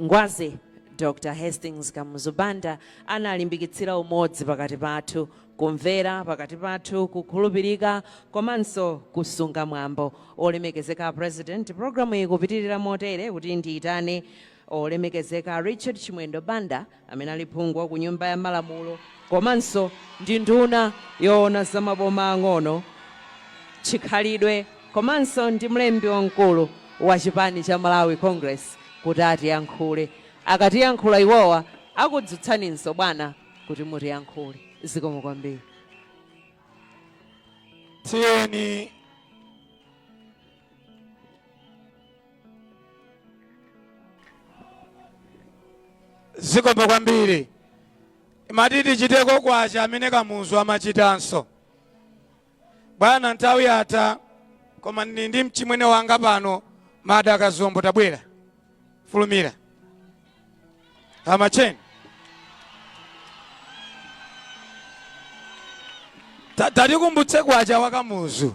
Ngwazi, Dr. Hastings Kamuzu Banda analimbikitsira umodzi pakati pathu, kumvera pakati pathu, kukhulupirika komanso kusunga mwambo. Olemekezeka President, programu iyi ikupitilira motere kuti ndiyitane Olemekezeka Richard Chimwendo Banda, amene ali phungu ku Nyumba ya Malamulo komanso ndi nduna yoona za maboma ang'ono, chikhalidwe komanso ndi mlembi wamkulu wa chipani cha Malawi Congress kuti atiyankhule. Akatiyankhula iwowa akudzutsaninso bwana kuti mutiyankhule. Zikomo kwambiri. Tiyeni zikomo kwambiri imati tichiteko kwacha amene kamuzu amachitanso bwana nthawi yatha koma ndili ndi mchimwene wanga pano Mada Kazombo tabwera fulumira amacheni tatikumbutse kwacha wa Kamuzu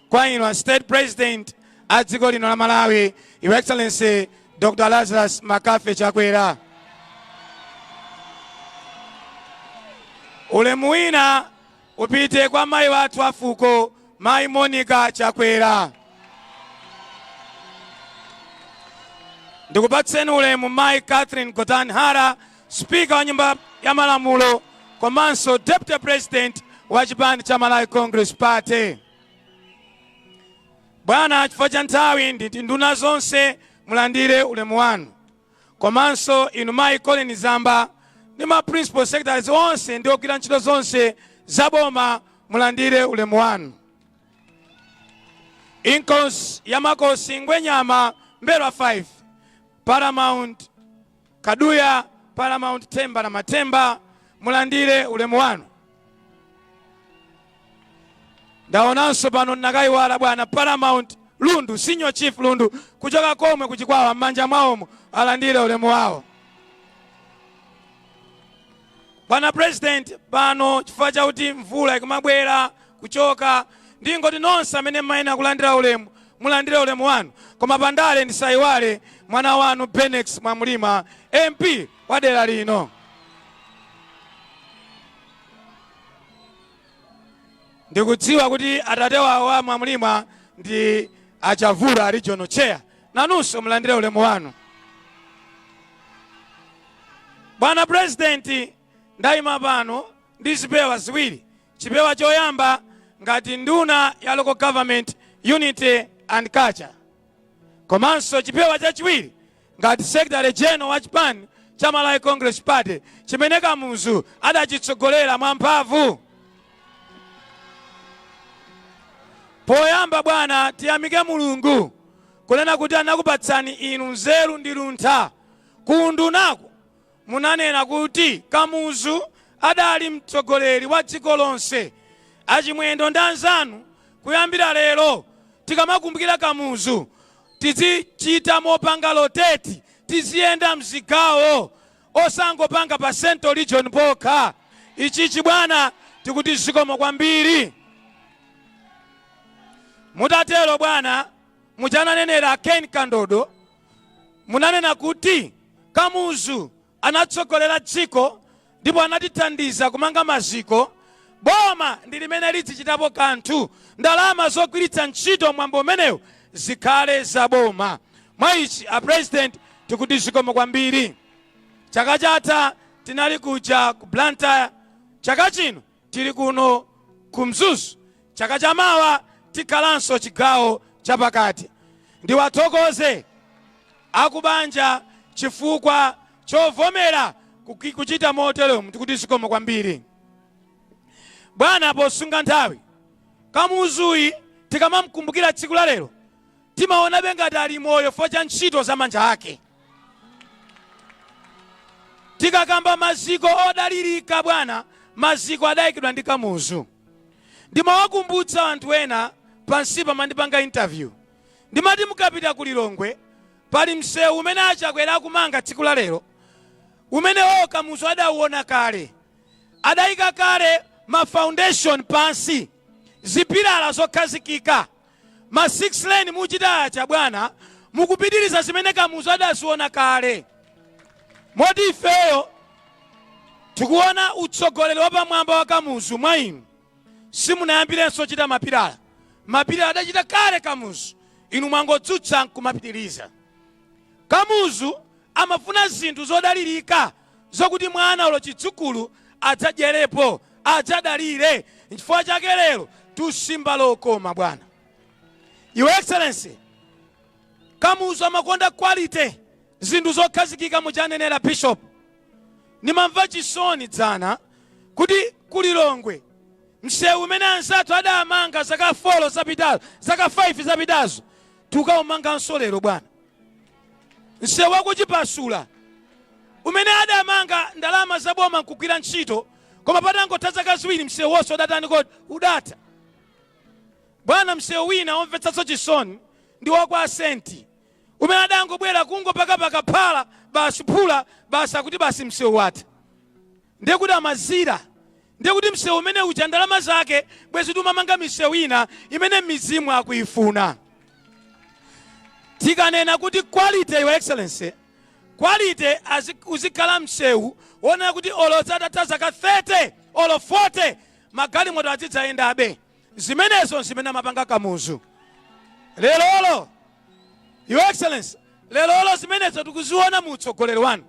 kwa inu a state president a dziko lino la malawi your excellency dr lazarus McCarthy chakwera ulemu wina upite kwa mayi athu a fuko mayi monica chakwera ndikupatseni ulemu mayi catherine Gotani Hara spika wa nyumba ya malamulo komanso deputy president wa chipani cha malawi congress party Bwana, chifukwa cha nthawi nditi nduna zonse mulandire ulemu wanu, komanso inu mayi Colleen Zamba ndi ma principal secretaries onse ndi ogwira ntchito zonse za boma mulandire ulemu wanu. Inkosi ya Makosi Ngwenyama M'mbelwa 5 Paramount Kaduya, Paramount Themba la Mathemba, mulandire ulemu wanu. Ndaonanso pano ndinakaiwala bwana Paramount Lundu, Senior Chief Lundu kuchoka komwe ku Chikwawa, m'manja mwawomo alandire ulemu wawo. Bwana president pano chifukwa chakuti mvula ikumabwera kuchoka ndingoti nonse amene mumayenera kulandira ulemu mulandire ulemu wanu koma pandale ndisayiwale mwana wanu Benex Mwamulima MP wa dera lino. Ndikudziwa kuti atate wawo a Mwamulima ndi a Chavula regional chair Nanunso mulandire ulemu wanu. Bwana Purezidenti, ndayima pano ndi zipewa ziwiri, chipewa choyamba ngati nduna ya Local Government, Unity and Culture komanso chipewa chachiwiri ngati Secretary General wa chipani cha Malawi Congress Party chimene Kamuzu adachitsogolera mwamphamvu. Poyamba bwana, tiyamike Mulungu kunena kuti anakupatsani inu nzeru ndi luntha. Ku undunaku munanena kuti Kamuzu adali mtsogoleri wa dziko lonse. A Chimwendo ndi anzanu kuyambira lero tikamakumbukira Kamuzu tidzichita mopanga rotate, tiziyenda mzigawo. osangopanga pa central region pokha ichichi bwana tikuti zikomo kwambiri mutatero bwana muja ananenera ken kandodo munanena kuti kamuzu anatsogolera dziko ndipo anatithandiza kumanga maziko Boma ndi limene lidzichitapo kanthu. Ndalama zogwiritsa ntchito mwambo umenewu zikhale za boma. Mwa ichi a President tikuti zikomo kwambiri. Chaka chatha tinali kuja ku Blantyre, chaka chino tili kuno ku Mzuzu, chaka cha mawa tikhalanso chigawo cha pakati. Ndiwathokoze aku banja chifukwa chovomera kuchita moteromu. Tikuti zikomo kwambiri. Bwana posunga nthawi. Kamuzuyi tikamamkumbukira tsiku la lero timaonabe ngati ali moyo fo cha ntchito za manja ake. Tikakamba maziko odalirika bwana, maziko adayikidwa ndi Kamuzu. Ndimawakumbutsa anthu ena pansipa mandipanga interview ndimati mukapita ku Lilongwe pali msewu umene a Chakwera akumanga tsiku la lero Umenewo Kamuzu adauona kale. Adaika kale ma foundation pansi, zipilala zokhazikika. Ma 6 lane muchita aja bwana, mukupitiriza zimene Kamuzu adaziona kale. Moti ifeyo tikuona utsogoleri wapamwamba wa Kamuzu mwa inu. Simunayambirenso chita mapilala. Mapilala adachita kale Kamuzu, inu mwangodzutsa nkumapitiriza. Kamuzu Amafuna zinthu zodalirika zokuti mwana olo chidzukulu adzadyerepo, adzadalire. Nchifukwa chake lero tusimba lokoma bwana. Your Excellency, Kamuzu amakonda quality, zinthu zokhazikika muja anenera Bishop. Nimamva chisoni dzana kuti ku Lilongwe msewu umene anzathu adamanga zaka 4 zapitazo, zaka 5 zapitazo tukaumanganso lero bwana. Msewu wa ku Chipasula umene adamanga ndalama za boma nkugwira ntchito koma patangotha zaka ziwiri msewu wonse udatani kodi udatha bwana msewu wina omvetsanso chisoni ndi wa kwa a Senti umene adangobwera kungopakapaka phala basi phula basi akuti basi msewu watha ndiye kuti amadziwa ndiye kuti msewu umene uja ndalama zake bwezi tumamanga misewu ina imene m'midzimu akuifuna tikanena kuti quality your excellency quality azi- uzikhala msewu wonena kuti olo zatatha zaka 30 olo 40 magalimoto adzidzayendabe zimenezo zimene amapanga kamuzu lerolo your excellency lerolo zimenezo tikuziona mu utsogoleri wanu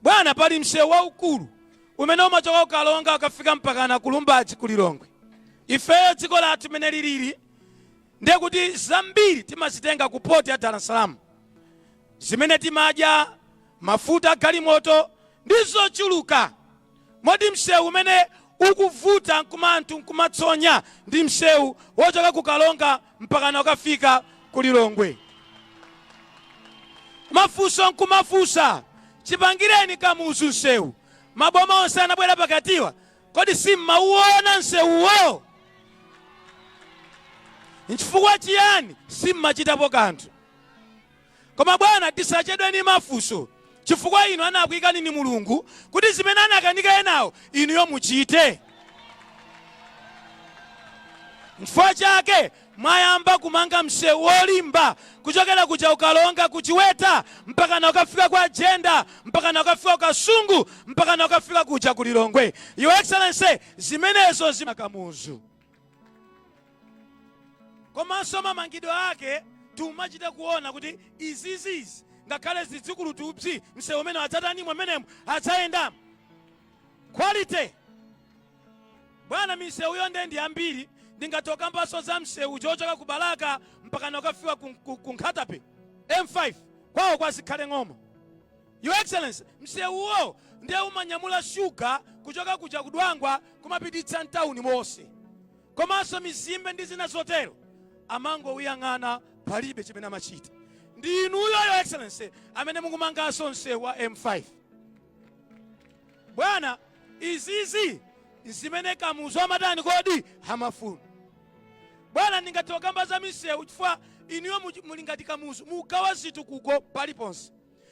Bwana, pali msewu waukulu umene umachoka ku Karonga ukafika mpakana ku Lumbadzi ku Lilongwe. Ifeyo dziko lathu mene lilili ndiye kuti zambiri timazitenga ku port ya Dar es Salaam, zimene timadya, mafuta a galimoto ndi zochuluka Mmodzi msewu umene ukuvuta nkumanthu nkumatsonya ndi msewu wochoka ku Karonga mpakana ukafika ku Lilongwe? Mafunso nkumafunsa, chipangireni Kamuzu msewu. Maboma onse anabwera pakatiwa kodi simmauona msewuwo? Nchifukwa chiyani simmachitapo kanthu? Koma, bwana, tisachedwe ndi mafunso, chifukwa inu anakuikani ndi Mulungu kuti zimene anakanika enawo inuyo muchite. Nchifukwa chake mwayamba kumanga msewu wolimba kuchokera kuja ku Karonga ku Chiweta mpakana kukafika kwa Jenda mpakana kukafika ku Kasungu mpakana kukafika kuja ku Lilongwe. Your Excellency, zimenezo nza Kamuzu. komanso mamangidwe ake tumachita kuona kuti izizizi ngakhale zidzikulu tupsi msewu umene adzatanimo mmenemo adzayendamo quality bwana misewuyo nde ndi yambiri ndingatokambanso za msewu wochoka ku balaka mpakana ukafika ku, ku, ku Nkhata Bay m5 kwawo kwa Zikhale Ng'oma Your Excellency, msewuwo nde umanyamula sugar kuchoka kuja ku Dwangwa kumapititsa mtauni mose. Komanso mizimbe ndi zina zotero amangouyang'ana palibe chimene amachita. Ndi inuyo Your Excellency amene mukumanganso msewu wa M5. Bwana izizi nzimene Kamuzu amatani kodi? Amafuna. Bwana ndingathe kukamba za misewu chifukwa inuyo muli ngati Kamuzu mukugawa zitukuko paliponse.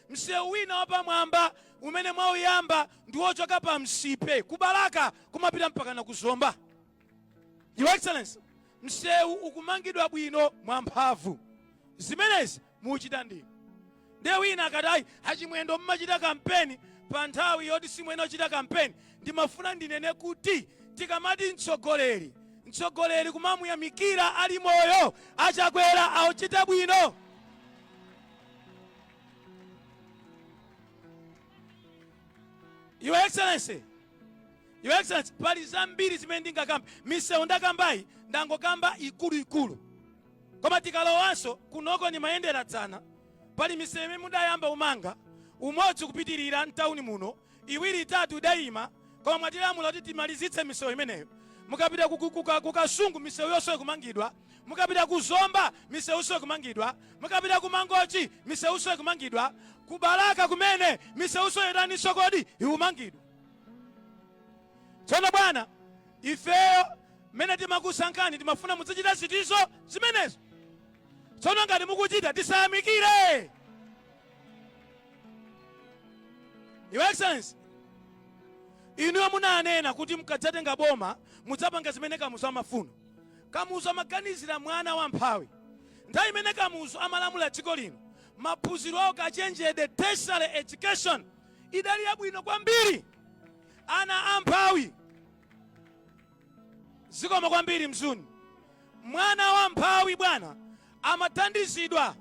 Msewu wina wapamwamba umene mwauyamba ndi wochoka pa Msipe ku Balaka kumapita mpakana ku Zomba. Your Excellency, msewu ukumangidwa bwino mwamphamvu. Zimenezi muchita ndinu. Ndiye wina akati ayi achimwendo mmachita kampeni pa nthawi yoti simwene ochita kampeni. Ndimafuna ndinene kuti tikamati mtsogoleri, mtsogoleri kumamuyamikira ali moyo. Achakwera akuchita bwino. Your Excellency, Your Excellency, pali zambiri zimene ndingakamba misewu ndakambayi ndangokamba ikuluikulu koma tikalowanso kunoko ndimayendera dzana pali misewu imene mudayamba kumanga umodzi kupitirira mtawuni muno iwiri, itatu idaima koma mwatilamula kuti timalizitse misewu imeneyo. Mukapita ku, ku, ku, ka- ku Kasungu misewu yonse ikumangidwa, mukapita ku Zomba misewunso ikumangidwa, mukapita ku Mangochi misewunso ikumangidwa, ku Balaka kumene misewunso yotaninso kodi ikumangidwa. Tsono bwana, ifeyo mmene timakusankhani timafuna muzichita zinthuzo zimenezo. Tsono ngati mukuchita tisayamikire. Your Excellency, inuyo munanena kuti mukadzatenga boma mudzapanga zimene Kamuzu amafuna. Kamuzu amaganizira mwana wamphawi. Nthawi imene Kamuzu amalamula dziko lino, maphunziro a ukachenjede tertiary education idali yabwino kwambiri. Ana amphawi Zikomo kwambiri Mzuni. Mwana wamphawi bwana amathandizidwa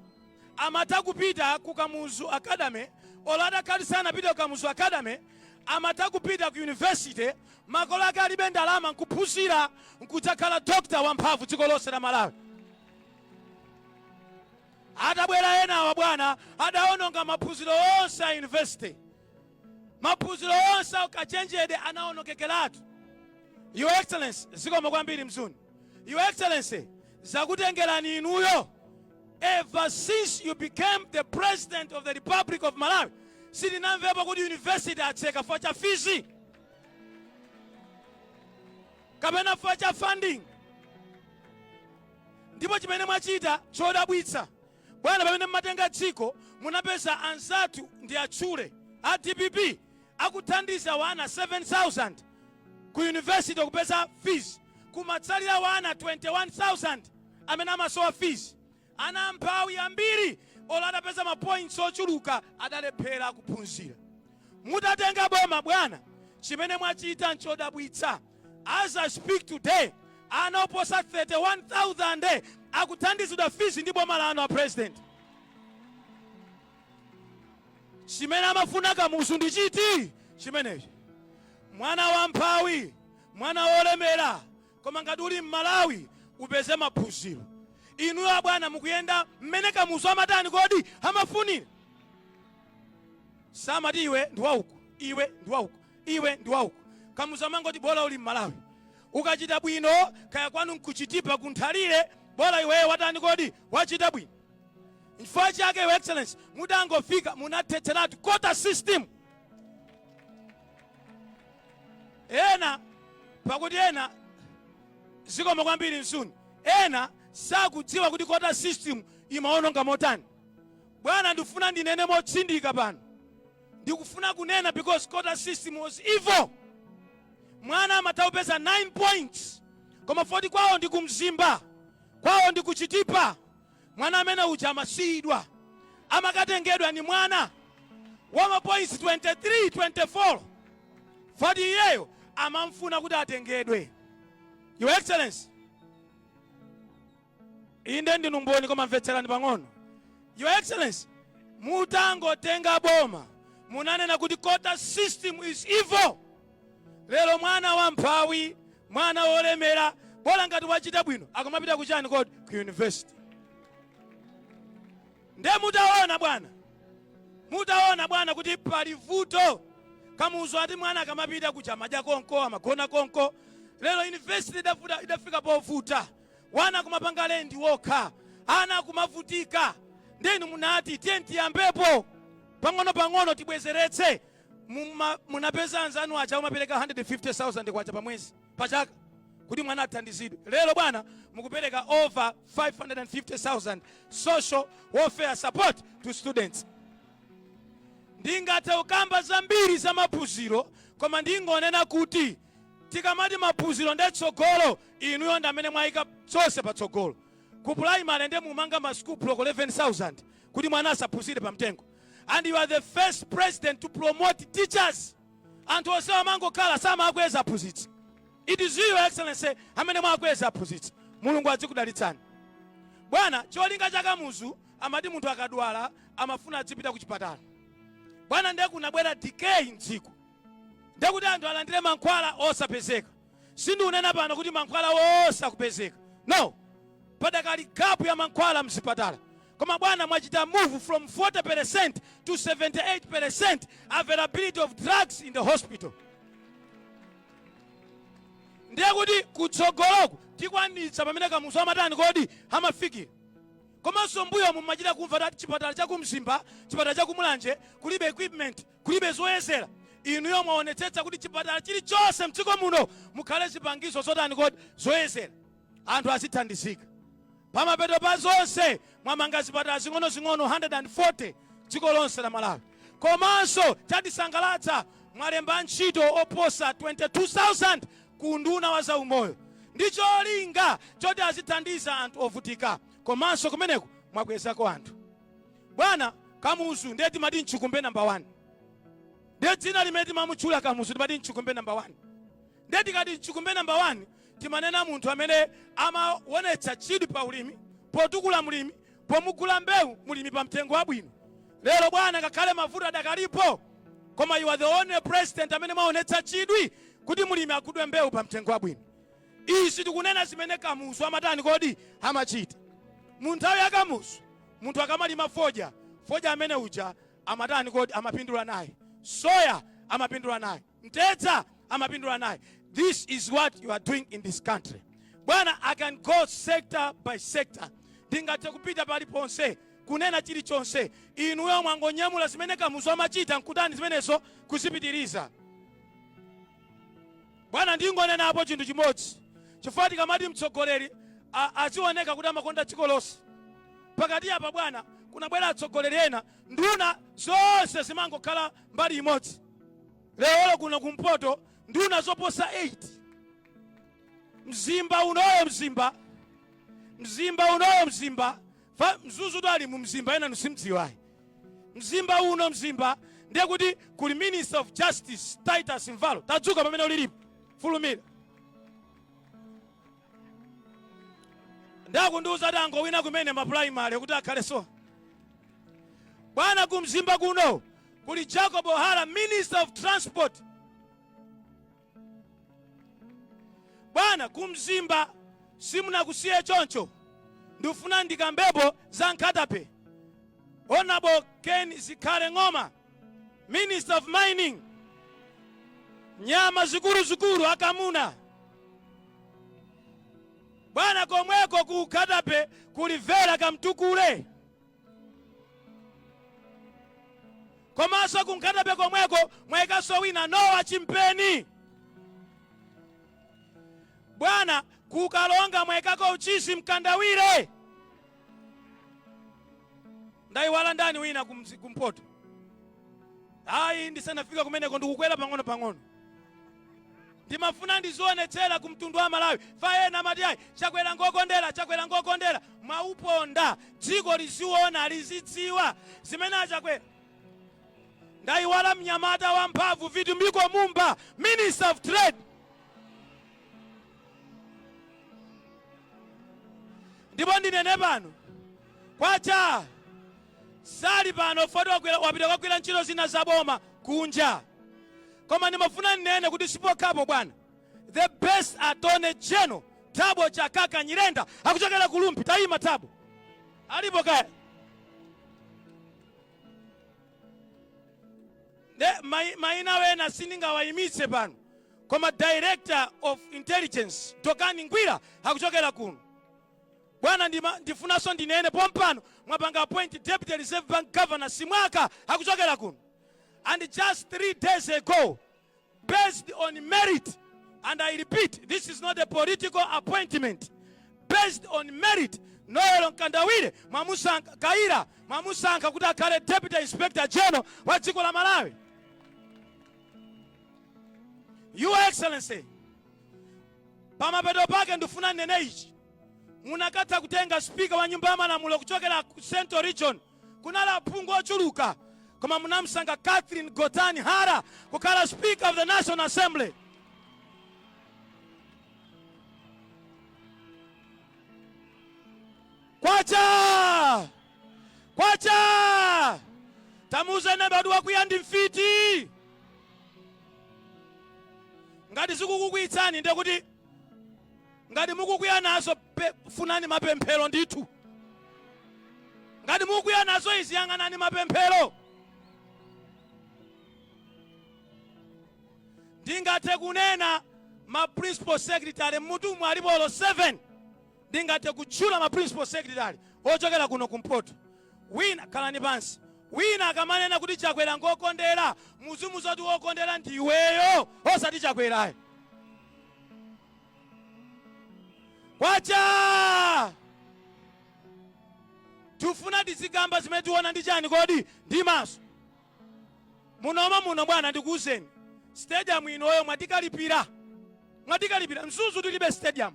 amatha kupita ku Kamuzu Academy olo atakhala sanapite ku Kamuzu Academy amatha kupita ku university makolo ake alibe ndalama nkuphunzira nkudzakhala doctor wamphamvu dziko lonse la Malawi. Atabwera enawa bwana adaononga maphunziro onse a university Maphunziro onse a ukachenjede anaonongekeratu. Your Excellency, zikomo kwambiri Mzuni. Your Excellency, zakutengerani inuyo ever since you became the president of the Republic of Malawi sitinamvepo kuti university atseka chifukwa cha fees kapena chifukwa cha funding ndipo chimene mwachita chodabwitsa Bwana pamene mumatenga dziko munapeza anzathu ndiwatchule a dpp akuthandiza wana 7000 ku university kupeza fees kumatsalira wana 21000 amene amasowa fees ana amphawi ambiri olo adapeza mapoints ochuluka adalephera kuphunzira mutatenga boma bwana chimene mwachita nchodabwitsa As I speak today, ana oposa 31,000 akuthandizidwa fees ndi boma lanu a president. Chimene amafuna kamuzu ndi chiti chimenechi? Mwana wa mphawi, mwana wolemera, koma ngati uli m'Malawi upeze maphunziro. Inuyo abwana mukuyenda mmene kamuzu amatani kodi amafunira? Samati iwe ndi wauko, iwe ndi wauko. iwe ndi wauko kamuzu amangoti bola uli mmalawi ukachita bwino kaya kwanu nkuchitipa kunthalire bola iweyo watani kodi wachita bwino chifukwa chake your excellency mudangofika munathetseratu quota system ena pakuti ena zikomo kwambiri msuni ena sakudziwa kuti quota system imaononga motani bwana ndifuna ndinene motsindika pano ndikufuna kunena because quota system was evil mwana amatha kupeza 9 points koma foti kwawo ndi kumzimba kwawo ndi kuchitipa mwana amene uja amasiyidwa amakatengedwa ni mwana wa mapoints 23 24 foti iyeyo amamfuna kuti atengedwe your excellency Inde ndinu mboni koma mvetserani pang'ono. Your Excellency, mutangotenga boma munanena kuti quota system is evil. Lero mwana wa mphawi, mwana wolemera, bola ngati wachita bwino, akamapita kuchani kodi ku university. Nde mutaona bwana, mutaona bwana kuti pali vuto kamuzu ati mwana akamapita kuja amadya konko amagona konko lero university idafika povuta wana kumapanga lendi wokha ana kumavutika nde inu munati tiyeni tiyambepo pang'onopang'ono tibwezeretse munapeza anzanu aja kumapereka 150000 kwacha pa mwezi pa chaka kuti mwana athandizidwe lero bwana mukupereka over 550000 social welfare support to students ndingathe kukamba zambiri za maphunziro koma ndingonena kuti tikamati maphunziro nde tsogolo inuyo ndamene mwaika zonse patsogolo ku primary nde mumanga ma school block 11000 kuti mwana asaphunzire pa mtengo and you are the first president to promote teachers anthu onse amangokhala samakweza aphunzitsi it is your excellency amene mwakweza aphunzitsi mulungu adzikudalitsani bwana cholinga cha kamuzu amati munthu akadwala amafuna adzipita ku chipatala bwana ndiye kunabwera decay mdziko Ndiye kuti anthu alandire mankhwala osapezeka. Sindikunena pano kuti mankhwala onse akupezeka. No. Padakali gap ya mankhwala mzipatala. Koma bwana mwachita move from 40% to 78% availability of drugs in the hospital. Ndiye kuti kutsogoloku tikwanitsa pamene Kamuzu amatani kodi amafikira. Komanso mbuyomu mumachita kumva kuti chipatala cha ku Mzimba, chipatala cha ku Mulanje kulibe equipment. Kulibe zoyezela inuyo mwaonetsetsa kuti chipatala chilichonse mdziko muno mukhale zipangizo zotani kodi zoyezela anthu azithandizika pamapeto pa zonse mwamanga zipatala zing'ono zing'ono 140 dziko lonse la Malawi komanso chatisangalatsa mwalemba ntchito oposa 22000 ku unduna wa za umoyo ndi cholinga choti azithandiza anthu ovutika komanso kumeneko mwakwezako anthu Bwana, Kamuzu ndiye timati mchikumbe number one. Ndiye dzina limene timamutchula Kamuzu timati mchikumbe number one. Ndiye tikati mchikumbe number one timanena munthu amene amawonetsa chidwi pa ulimi, potukula mlimi, pomugula mbewu mlimi pa mtengo wabwino. Lero bwana, ngakhale mavuto adakalipo, koma you are the only president amene mwawonetsa chidwi kuti mlimi agulidwe mbewu pa mtengo wabwino. Izi tukunena zimene Kamuzu amatani kodi? Amachita. Mu nthawi ya Kamuzu munthu akamalima fodya, fodya amene uja amatani kodi? Amapindula naye. Soya amapindula naye. Mtedza amapindula naye. This is what you are doing in this country. Bwana, I can go sector by sector. Ndingathe kupita paliponse kunena chilichonse. Inuyo mwangonyamula zimene Kamuzu amachita nkutani zimenezo? Kuzipitiriza. Bwana ndingonenapo chinthu chimodzi chifukwa tikamati mtsogoleri azioneka kuti amakonda dziko lonse pakati apa bwana kunabwera atsogoleri ena nduna zonse zimangokhala mbali imodzi lero kuno kumpoto nduna zoposa 8 mzimba unoyo mzimba mzimba unoyo mzimba Fa, mzuzutu ali mu mzimba enanu simudziwa ayi. Mzimba uno mzimba ndiye kuti kuli Minister of Justice Titus Mvalo. Tadzuka pamene ulilipo. Fulumira. Ndakundiuza dango wina kumene ma primary kuti akhale so. Bwana ku mzimba kuno kuli Jacob Hara Minister of Transport. Bwana ku mzimba simunakusiye choncho ndufuna ndikambepo za Nkhata Bay Honourable Ken Zikhale Ng'oma Minister of Mining nyama zikuluzikulu akamuna bwana komweko ku Nkhata Bay kuli vera kamtukule Komanso ku Nkhata Bay komweko mwayikaso wina Noah Chimpeni bwana ku karonga mwayikako uchizi mkandawire ndayiwala ndani wina kumzi- kumpoto ayi ndisanafika kumeneko ndikukwera pang'ono pang'ono Ndimafuna ndizionetsera ku mtundu wa a Malawi fa ena amati ayi Chakwera ngokondera Chakwera ngokondera mwauponda dziko liziona lizidziwa zimene a Chakwera ndaiwala mnyamata wa mphamvu vitumbiko mumba minister of trade ndipo ndinene pano kwacha sali pano foti wapita kukagwira ntchito zina za boma kunja koma ndimafuna nnene kuti si pokhapo bwana the best attorney general thabo chakaka nyirenda akuchokera ku Rumphi tayima thabo alipo kaya ne mai- maina wena sindingawayimitse pano koma director of intelligence Dokani ngwira akuchokera kuno Bwana ndima ndifunaso ndinene pompano mwapanga appoint Deputy Reserve Bank Governor Simwaka akuchokera kuno and just three days ago based on merit and I repeat this is not a political appointment based on merit Noel Mkandawire mwamusankha Kayira mwamusankha kuti akhale Deputy Inspector General wa dziko la Malawi Your Excellency pamapeto pake ndifuna nnene ichi munakatha kutenga sipika wa nyumba ya malamulo kuchokera ku central region kunali aphungu ochuluka koma munamsankha catherine gotani hara kukhala speaker of the national assembly kwacha kwacha tamuuze neba kuti wakwiya ndi mfiti ngati zikukukwiyitsani ndiye kuti ngati mukukwiya nazo pe- funani mapemphero ndithu ngati mukukwiya nazo izi yang'anani mapemphero ndingathe kunena ma principal secretary mmutumu alipo 7 Ndingathe kutchula ma principal secretary ochokera kuno ku mpoto. Wina, khalani pansi, wina akamanena kuti Chakwera ngokondera, muzimuza kuti wokondera ndi iweyo osati Chakwera ayi. Kwacha! Tifuna tizikamba zimene tiona ndi chani kodi? Ndi maso. Munomo muno bwana ndikuuzeni stadium inoyo mwatikalipira mwatikalipira mzuzu tilibe stadium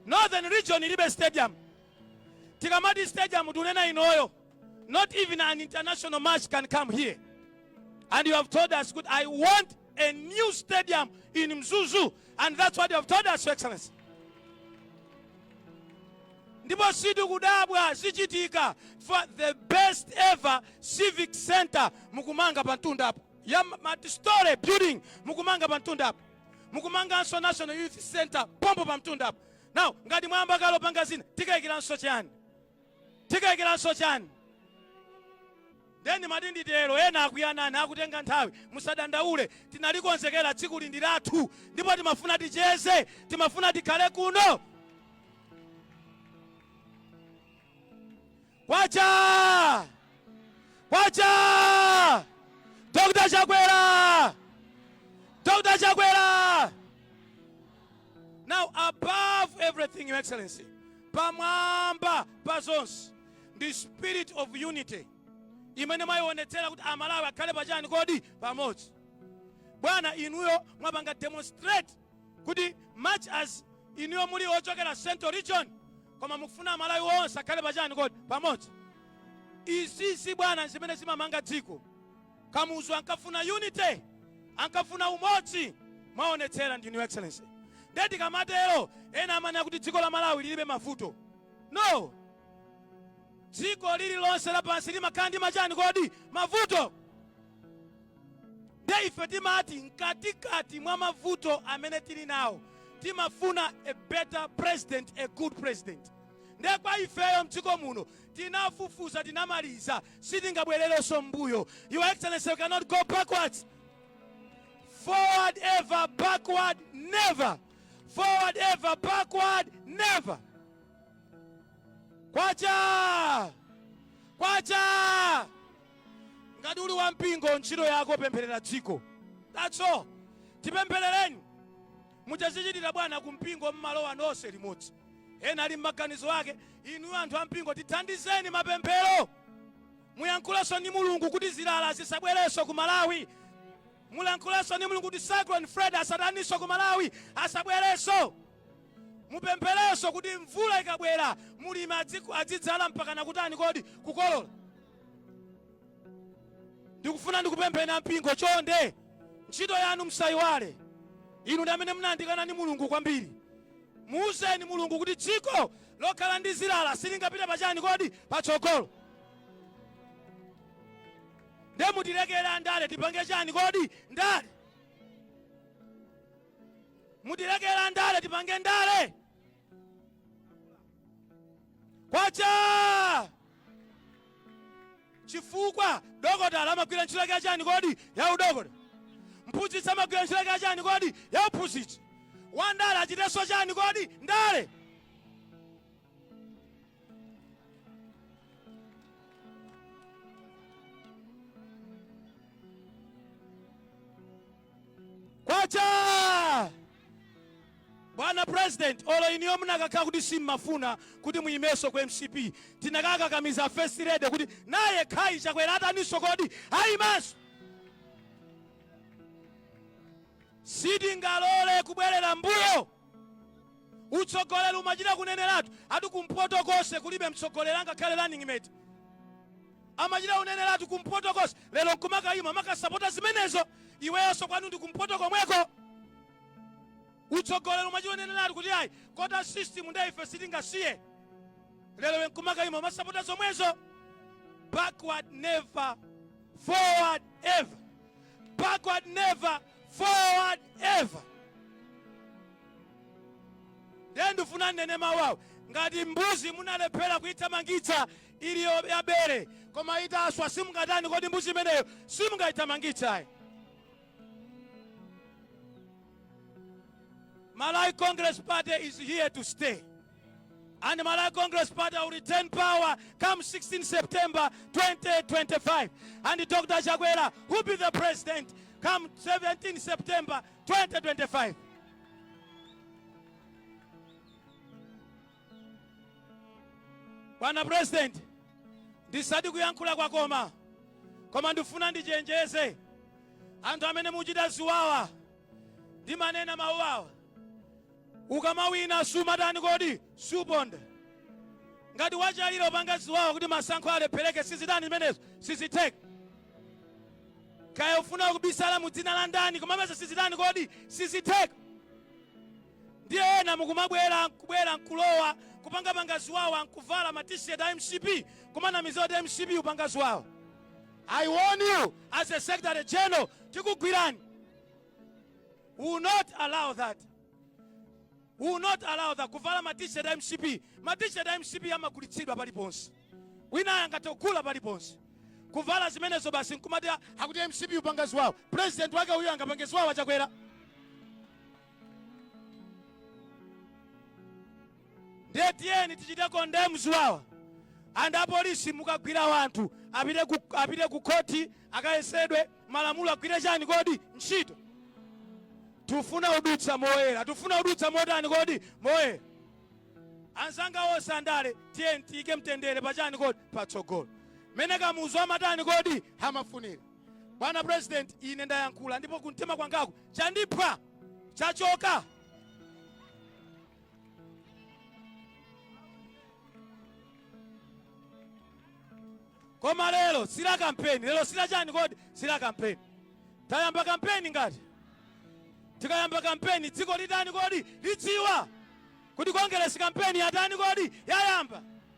northern region ilibe stadium tikamati stadium tunena inoyo not even an international match can come here and you have told us good i want a new stadium in mzuzu and that's what you have told us your excellency ndipo sitikudabwa zichitika for the best ever civic center mukumanga pa mtundapo ya multistory building mukumanga pa mtundapo mukumanganso national youth center pompo pa mtundapo now ngati mwayamba kale opanga zina tikayikiranso chani Tikayikiranso chani? Nde ndimati nditero ena akuti a Nane akutenga nthawi musadandaule tinalikonzekera tsikuli ndi lathu ndipo timafuna ticheze timafuna tikhale kuno kwacha kwacha Dr. Chakwera Dr. Chakwera Now above everything, Your Excellency, pamwamba pa zonse ndi spirit of unity imene mwayionetsera kuti amalawi akhale pachani kodi pamodzi bwana inuyo mwapanga demonstrate kuti much as inuyo muli ochokera central region koma mukufuna amalawi onse akhale pachani kodi pamodzi izizi bwana zimene zimamanga dziko Kamuzu ankafuna unity, ankafuna umodzi, mwaonetsera ndinu your excellency. Nde tikamatero ena amanena kuti dziko la Malawi lilibe mavuto. No! Dziko lililonse lapansi limakhala ndi machani kodi? Mavuto! Nde ife timati mkatikati mwa mavuto amene tili nawo timafuna a better president, a good president. Nde kwa ifeyo mdziko muno tinafufuza tinamaliza sitingabwererenso m'mbuyo your excellency we cannot go backwards forward ever backward never forward ever backward never kwacha kwacha ngati uli wampingo ntchito yako pempherera dziko that's all tipempherereni Mutazichitira bwana ku mpingo mmalowa nonse limodzi. Ena ali mmaganizo ake, inuyo anthu ampingo tithandizeni mapemphero. Muyankhulenso ndi Mulungu kuti zilala zisabwerenso ku Malawi. Mulankhulenso ndi Mulungu kuti Cyclone Freddy asataninso ku Malawi, asabwerenso. Mupempherenso kuti mvula ikabwera mulimi adzidzala mpakana kutani kodi? Kukolola. ndikufuna ndikupempheni ampingo chonde ntchito yanu msayiwale inu ndi amene mumayandikana ndi mulungu kwambiri muuzeni mulungu kuti dziko lokhala ndi zilala silingapite pachani kodi patsogolo nde mutilekere andale tipange chani kodi ndale mutilekere andale tipange ndale kwacha chifukwa dokotala amagwira ntchito yake yachani kodi ya udokotala mphunzitsi amagwira ntchito yake yachani kodi ya uphunzitsi wandale achitenso chani kodi ndale kwacha Bwana president olo inuyo mukanakhala kuti simmafuna kuti muyimeso ku mcp tikanakakamiza a first lady kuti naye khai chakwera ataniso kodi ayimenso sitingalole kubwerera mbuyo utsogoleri umachita kuneneratu ati kumpoto konse kulibe mtsogoleri angakhale running mate Amachita kuneneratu kumpoto konse lero nkumakayima umakasapota zimenezo iweyonso kwanu ndi kumpoto komweko. Utsogoleri umachita kuneneratu kuti ayi quota system ndiye ife sitingasiye lero iwe nkumakayima umasapota zomwezo. Backward never, forward ever. Backward never, forward ever. Ndiye ndifuna nnene mawu awa ngati mbuzi munalephera kuithamangitsa ili yo- yabere koma itaswa simungatani kodi mbuzi imeneyo simungayithamangitse ayi malawi congress party is here to stay and malawi congress party will retain power come 16 september 2025 and dr chakwera will be the president come 17 september 2025 Bwana president ndisati kuyankhula kwakoma koma ndifuna ndichenjeze anthu amene muchita ziwawa ndimanena mawu awa ukamawina sumatani kodi suponda ngati wachalira upanga ziwawa kuti masankho alephereke sizitani zimenezo sizitheka kaya ufuna kubisala mu dzina la ndani koma pano sizitani kodi sizitheka Ndiye ena mukumabwera nkubwera nkulowa kupangapanga ziwawa nkuvala ma t-shirt a mcp kumanamiza kuti mcp upanga ziwawa. I warn you as a secretary general tikugwirani. We will not allow that. We will not allow that kuvala ma t-shirt a mcp. Ma t-shirt a mcp amagulitsidwa paliponse. Wina angathe kugula paliponse. Kuvala zimenezo basi nkumati akuti mcp upanga ziwawa. President wake uyu angapange ziwawa chakwera. ndiye tiyeni tichite condemn ziwawa and apolisi mukagwira wanthu apite ku khoti akayesedwe malamulo agwire chani kodi ntchito tufuna udutsa moyera tufuna udutsa motani kodi moyera anzanga onse andale tiyeni tiyike mtendere pachani kodi patsogolo mene kamuzu amatani kodi amafunira bwana president ine ndayankhula ndipo kumtima kwangaku chandipweteka chachoka koma lero sila kampeni lero sila chani kodi sila kampeni tayamba kampeni ngati tikayamba kampeni dziko litani kodi lidziwa kuti kongeresi kampeni yatani kodi yayamba